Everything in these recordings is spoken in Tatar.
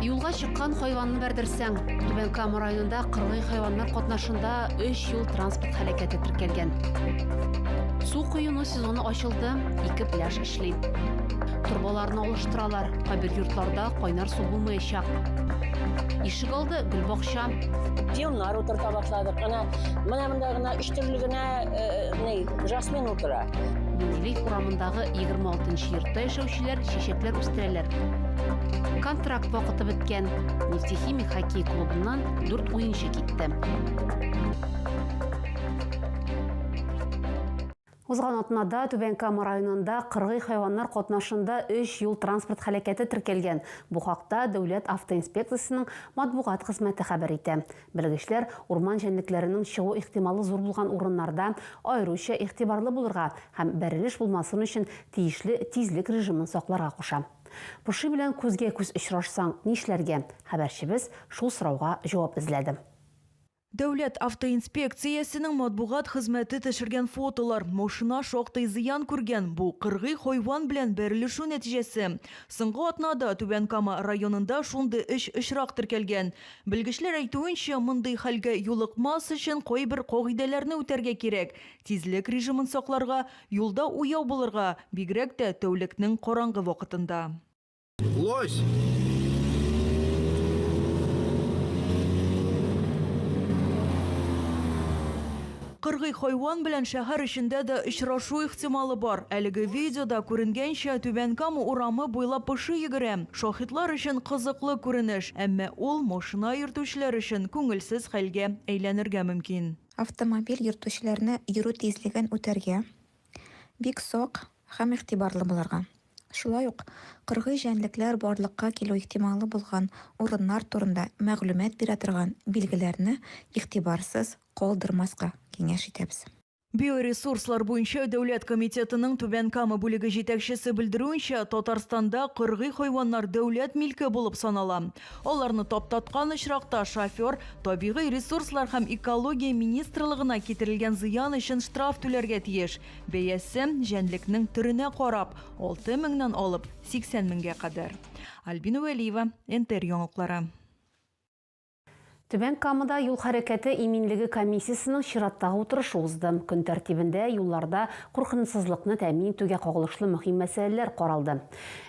Юлга чыккан хайванны бәрдерсәң, Түбән Кама районында кырлы хайваннар катнашында 3 юл транспорт һәлакәте теркәлгән. Су коену сезоны ачылды, ике пляж эшли. Турбаларны алыштыралар, кайбер йортларда кайнар су булмаячак. Ишек алды гөлбакча. Филмнар утырта башладык. Ана, менә монда гына Төрле генә ни, жасмин утыра. Менделеев урамындагы 26-нчы йортта яшәүчеләр чәчәкләр үстерәләр. Контракт вакыты беткән. Нефтехимик хоккей клубыннан 4 уенчы китте. Узган атнада Түбән Кама районында кыргый хайваннар катнашында өч юл-транспорт һәлакәте теркәлгән. Бу хакта Дәүләт автоинспекциясенең матбугат хезмәте хәбәр итә. Белгечләр урман җәнлекләренең чыгу ихтималы зур булган урыннарда аеруча игътибарлы булырга һәм бәрелеш булмасын өчен тиешле тизлек режимын сакларга куша. Поши белән күзгә-күз очрашсаң, нишләргә? Хәбәрчебез шул сорауга җавап эзләде. Дәүләт автоинспекциясенең матбугат хезмәте төшергән фотолар, машина шактый зыян күргән, бу, кыргый хайван белән бәрелешү нәтиҗәсе. Соңгы атнада Түбән Кама районында шундый өч очрак теркәлгән. Белгечләр әйтүенчә, мондый хәлгә юлыкмас өчен кайбер кагыйдәләрне үтәргә кирәк, тизлек режимын сакларга, юлда уяу булырга, бигрәк тә тәүлекнең караңгы вакытында. Лось! Кыргый хайван белән шәһәр эчендә дә очрашу ихтималы бар. Әлеге видеода күренгәнчә, Түбән Кама урамы буйлап поши йөгерә. Шаһитлар өчен кызыклы күренеш, әмма ул машина йөртүчеләр өчен күңелсез хәлгә әйләнергә мөмкин. Автомобиль йөртүчеләрне йөрү тизлеген үтәргә, Бик сак һәм игътибарлы булырга. Шулай ук кыргый җәнлекләр барлыкка килү ихтималы булган урыннар турында мәгълүмат бирә торган билгеләрне игътибарсыз калдырмаска киңәш итәбез. Биоресурслар буенча дәүләт комитетының Түбән Кама бүлеге җитәкчесе белдерүенчә, Татарстанда кыргый хайваннар дәүләт милке булып санала. Аларны таптаткан очракта шофер Табигый ресурслар һәм экология министрлыгына китерелгән зыян өчен штраф түләргә тиеш. Бәясе, җәнлекнең төренә карап, 6 меңнән алып 80 меңгә кадәр. Альбина Вәлиева, НТР яңалыклары. Түбән Камада юл хәрәкәте иминлеге комиссиясенең чираттагы утырышы узды. Көн тәртибендә юлларда куркынычсызлыкны тәэмин итүгә кагылышлы мөһим мәсьәләләр каралды.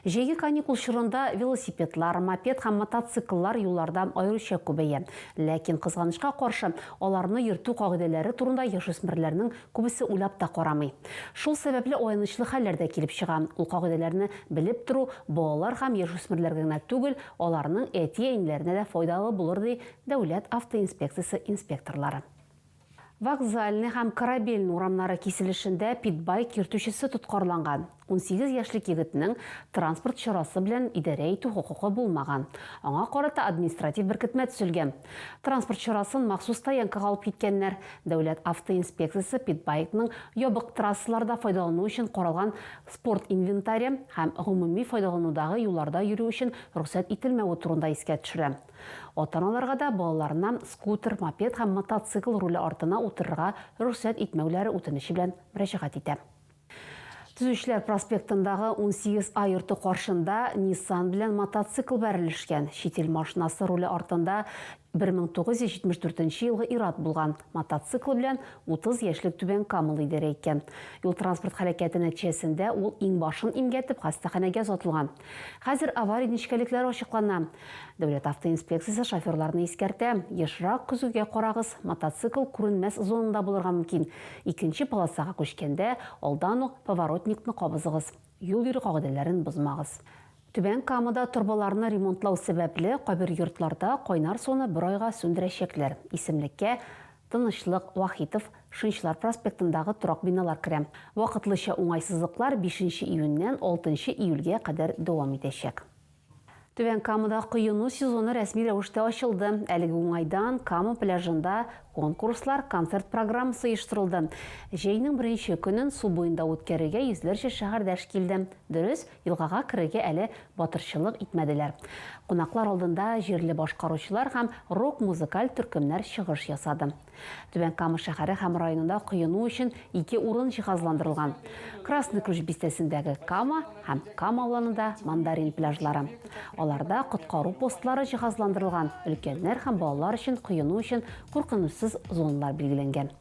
Җәйге каникул чорында велосипедлар, мопед һәм мотоцикллар юлларда аеруча күбәя. Ләкин, кызганычка каршы, аларны йөртү кагыйдәләре турында яшүсмерләрнең күбесе уйлап та карамый. Шул сәбәпле аянычлы хәлләр дә килеп чыга. Ул кагыйдәләрне белеп тору балалар һәм яшүсмерләргә генә түгел, Аларның әти-әниләренә дә файдалы булыр, ди Дәүләт автоинспекциясе инспекторлары. Вокзальный һәм Корабельный урамнары киселешендә питбайк йөртүчесе тоткарланган. Унсигез яшьлек егетнең транспорт чарасы белән идарә итү хокукы булмаган. Аңа карата административ беркетмә төзелгән. Транспорт чарасын махсус стоянкага алып киткәннәр. Дәүләт автоинспекциясе питбайкның ябык трассаларда файдалану өчен каралган спорт инвентаре һәм гомуми файдаланудагы юлларда йөрү өчен рөхсәт ителмәве турында искә төшерә. Ата-аналарга да балаларына скутер, мопед һәм мотоцикл руле артына утырырга рөхсәт итмәүләре үтенече белән мөрәҗәгать итә. Төзүчеләр проспектындагы унсигез А йорты каршында Ниссан белән мотоцикл бәрелешкән. Чит ил машинасы руле артында 1974 елгы ир-ат булган, мотоцикл белән 30 яшьлек Түбән Камыл идарә иткән. Юл-транспорт һәлакәте нәтиҗәсендә ул иңбашын имгәтеп хастаханәгә озатылган. Хәзер авария нечкәлекләре ачыклана. Дәүләт автоинспекциясе шоферларны искәртә, ешрак көзгегә карагыз, мотоцикл күренмәс зонада булырга мөмкин, икенче полосага күчкәндә, алдан ук поворотникны кабызыгыз. Юл йөрү кагыйдәләрен бозмагыз. Түбән Камада торбаларны ремонтлау сәбәпле, кайбер йортларда кайнар суны бер айга сүндерәчәкләр. Исемлеккә Тынычлык, Вахитов, Шынчылар проспектындагы торак биналар керә. Вакытлыча уңайсызлыклар бишенче июньнән алтынчы июльгә кадәр дәвам итәчәк. Түбән Камада коену сезоны рәсми рәвештә ачылды. Әлеге уңайдан Кама пляжында конкурслар, концерт программасы оештырылды. Җәйнең беренче көнен су буенда үткәрергә йөзләрчә шәһәрдәш килде. Дөрес, елгага керергә әле батырчылык итмәделәр. Кунаклар алдында җирле башкаручылар һәм рок-музыкаль төркемнәр чыгыш ясады. Түбән Кама шәһәре һәм районында коену өчен ике урын җиһазландырылган. Красный Ключ бистәсендәге Кама һәм Кама уланында Мандарин пляжлары. Аларда коткару постлары җиһазландырылган, өлкәннәр һәм балалар өчен коену өчен куркынычсыз зоналар билгеләнгән.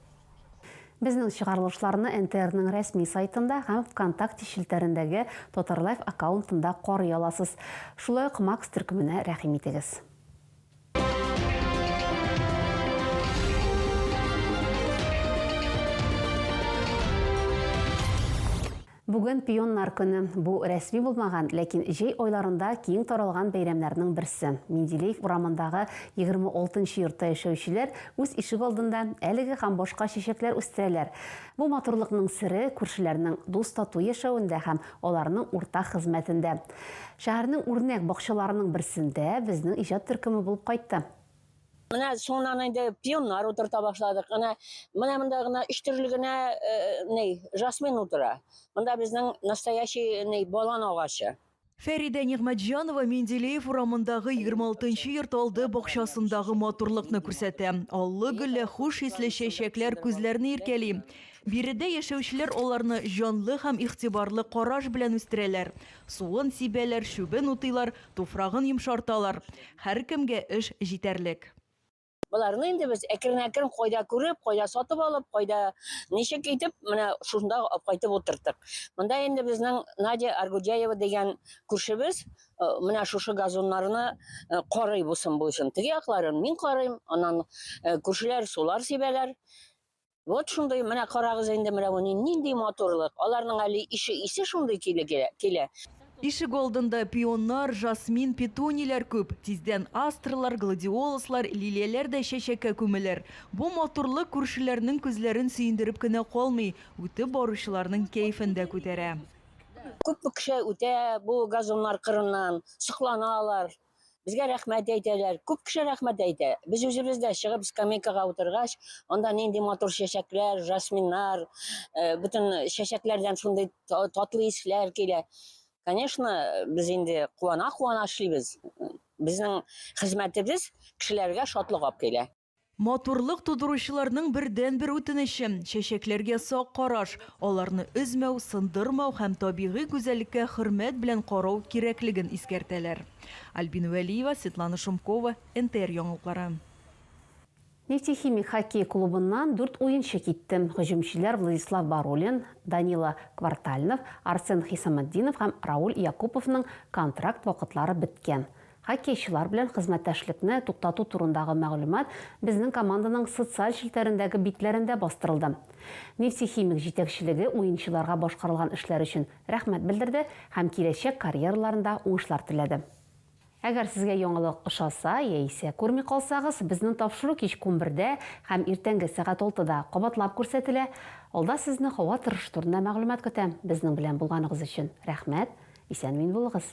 Безнең чыгарылышларны НТРның рәсми сайтында һәм ВКонтакте челтәрендәге Татарлайф аккаунтында карый аласыз. Шулай ук Макс төркеменә рәхим итегез. Бүген пионнар көне. Бу рәсми булмаган, ләкин җәй айларында киң таралган бәйрәмнәрнең берсе. Менделеев урамындагы 26 нчы йортта яшәүчеләр үз ишек алдында әлеге һәм башка чәчәкләр үстерәләр. Бу матурлыкның сере күршеләрнең дус-тату яшәвендә һәм аларның уртак хезмәтендә. Шәһәрнең үрнәк бакчаларының берсендә безнең иҗат төркеме булып кайтты. Менә соңыннан инде пионнар утырта башладык. Әнә менә монда гына өч төрле генә э, ни, жасмин утыра. Монда безнең настоящий ни, балан агачы. Фәридә Нигъмәтҗанова Менделеев урамындагы 26 нчы йорт алды бакчасындагы матурлыкны күрсәтә. Аллы-гөлле, хуш исле чәчәкләр күзләрне иркәли. Биредә яшәүчеләр аларны җанлы һәм игътибарлы караш белән үстерәләр, суын сибәләр, чүбен утыйлар, туфрагын йомшарталар. Һәркемгә эш җитәрлек. Боларны инде без әкрен-әкрен кайда күреп, кайда сатып алып, кайда ничек итеп, менә шунда кайтып утырттык. Монда инде безнең Надя Аргудяева дигән күршебез менә шушы газоннарны карый, бусын-буйсын. Теге якларын мин карыйм, аннан күршеләр сулар сибәләр. Вот шундый, менә карагыз инде менә бу нинди матурлык. Аларның әле ише исе шундый килә. Ишек алдында пионнар, жасмин, петуниләр күп. Тиздән астрлар, гладиолуслар, лилияләр дә чәчәккә күмелер. Бу матурлык күршеләрнең күзләрен сөендереп кенә калмый, үтеп баручыларның кәефен дә күтәрә. Күпме кеше үтә бу газоннар кырыннан, сокланалар. Безгә рәхмәт әйтәләр. Күп кеше рәхмәт әйтә. Без үзебез дә чыгып скамейкага утыргач, анда нинди матур чәчәкләр, жасминнар, э, бөтен чәчәкләрдән шундый татлы исләр килә. Конечно, без инде куана-куана эшлибез. Безнең хезмәтебез кешеләргә шатлык алып килә. Матурлык тудыручыларның бердәнбер үтенече, чәчәкләргә сак караш, аларны өзмәү, сындырмау һәм табигый гүзәллеккә хөрмәт белән карау кирәклеген искәртәләр. Альбина Вәлиева, Светлана Шумкова, НТР яңалыклары. Нефтехимик хоккей клубыннан дүрт уенчы китте. Һөҗүмчеләр Владислав Барулин, Данила Квартальнов, Арсен Хисаметдинов һәм Рауль Якуповның контракт вакытлары беткән. Хоккейчылар белән хезмәттәшлекне туктату турындагы мәгълүмат безнең команданың социаль челтәрендәге битләрендә бастырылды. Нефтехимик җитәкчелеге уенчыларга башкарылган эшләр өчен рәхмәт белдерде һәм киләчәк карьераларында уңышлар теләде. Әгәр сезгә яңалык ошаса яисә күрми калсагыз, безнең тапшыру кич кунбердә һәм иртәнге сәгать алтыда кабатлап күрсәтелә. Алда сезне һава торышы турында мәгълүмат көтә. Безнең белән булганыгыз өчен рәхмәт! Исән-имин булыгыз!